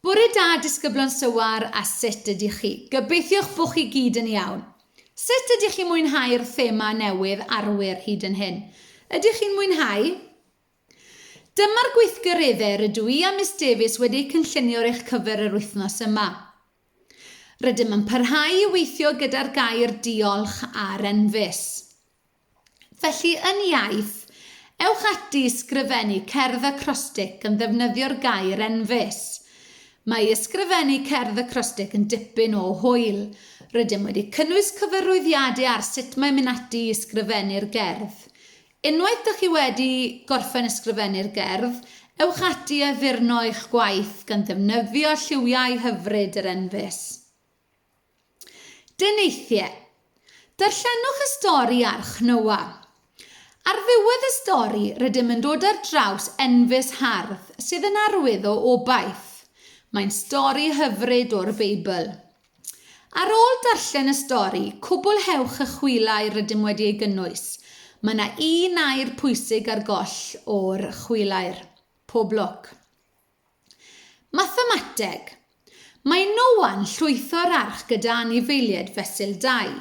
Bore da disgyblion Sywar a sut ydych chi? Gobeithiwch bo chi gyd yn iawn. Sut ydych chi'n mwynhau'r thema newydd arwyr hyd yn hyn? Ydych chi'n mwynhau? Dyma'r gweithgareddau rydw i a Miss Davies wedi eu cynllunio ar eich cyfer yr wythnos yma. Rydym yn parhau i weithio gyda'r gair diolch ar enfys. Felly, yn iaith, ewch ati i sgrifennu cerdd acrostig yn ddefnyddio'r gair enfys. Mae i ysgrifennu cerdd acrostig yn dipyn o hwyl. Rydym wedi cynnwys cyfarwyddiade ar sut mae mynd ati i ysgrifennu'r gerdd. Unwaith dych chi wedi gorffen ysgrifennu'r gerdd, ewch ati i addurno eich gwaith gan ddefnyddio lliwiau hyfryd yr enfys. Deneithiau. Darllenwch y stori Arch Noa. Ar ddiwedd y stori, rydym yn dod ar draws enfys hardd sydd yn arwydd o obaith. Mae'n stori hyfryd o'r Beibl. Ar ôl darllen y stori, cwblhewch y chwilau rydym wedi ei gynnwys. Mae yna un air pwysig ar goll o'r chwilair. Pob lwc! Mathemateg. Mae Noa'n llwytho'r arch gyda anifeiliaid fesul dau.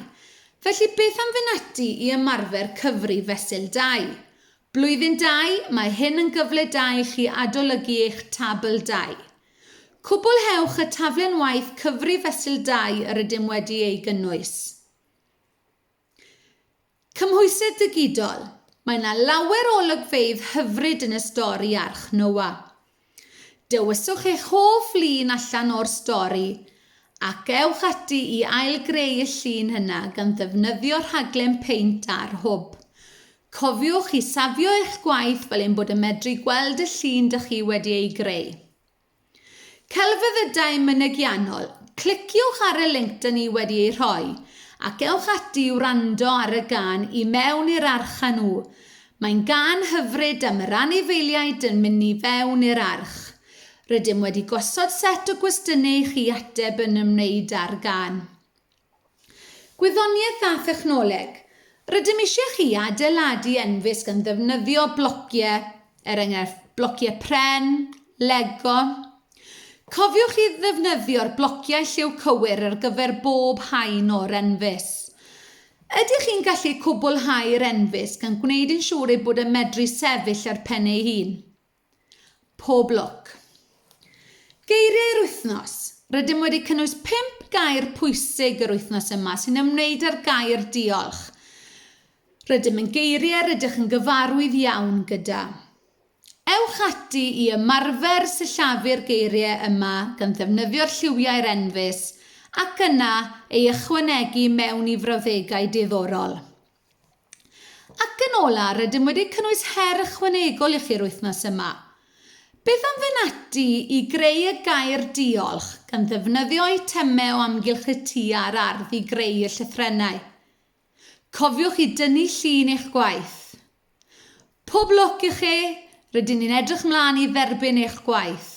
Felly beth am fynd ati i ymarfer cyfri fesul dau? Blwyddyn dau, mae hyn yn gyfle da i chi adolygu eich tabl dau. Cwblhewch y taflen waith cyfri fesul dau yr ydym wedi ei gynnwys. Cymhwysedd digidol, mae yna lawer o olygfeydd hyfryd yn y stori Arch Noa. Dewiswch eich hoff lun allan o'r stori ac ewch ati i ail-greu y llun yna gan ddefnyddio rhaglen Paint ar Hwb. Cofiwch i safio eich gwaith fel ein bod yn medru gweld y llun dych chi wedi ei greu. Celfyddydau Mynegiannol, cliciwch ar y linc dŷn ni wedi ei rhoi, ac ewch ati i wrando ar y gân I Mewn i'r Arch â nhw. Mae'n gân hyfryd am yr anifeiliaid yn mynd i fewn i'r arch. Rydym wedi gosod set o gwestiynau i chi ateb yn ymwneud â'r gân. Gwyddoniaeth a Thechnoleg, Rydym eisiau chi adeiladu enfysg yn ddefnyddio blociau, er enghraifft, blociau pren, Lego. Cofiwch i ddefnyddio'r blociau lliw cywir ar gyfer bob haen o'r enfys. Ydych chi'n gallu cwblhau'r enfysg gan gwneud yn siŵr ei bod yn medru sefyll ar pen ei hun? Pob lwc. Geiriau'r wythnos. Rydym wedi cynnwys 5 gair pwysig yr wythnos yma sy'n ymwneud â'r gair diolch. Rydym yn geiriau rydych yn gyfarwydd iawn gyda. Ewch ati i ymarfer sillafu'r geiriau yma gan ddefnyddio'r lliwiau'r enfys ac yna ei ychwanegu mewn i frawddegau diddorol. Ac yn ola, rydym wedi cynnwys her ychwanegol i chi'r wythnos yma. Beth am fynd ati i greu y gair 'diolch' gan ddefnyddio eitemau o amgylch y tŷ a'r ardd i greu y llythrennau? Cofiwch i dynnu llun eich gwaith. Pob lwc i chi, rydyn ni'n edrych mlaen i dderbyn eich gwaith!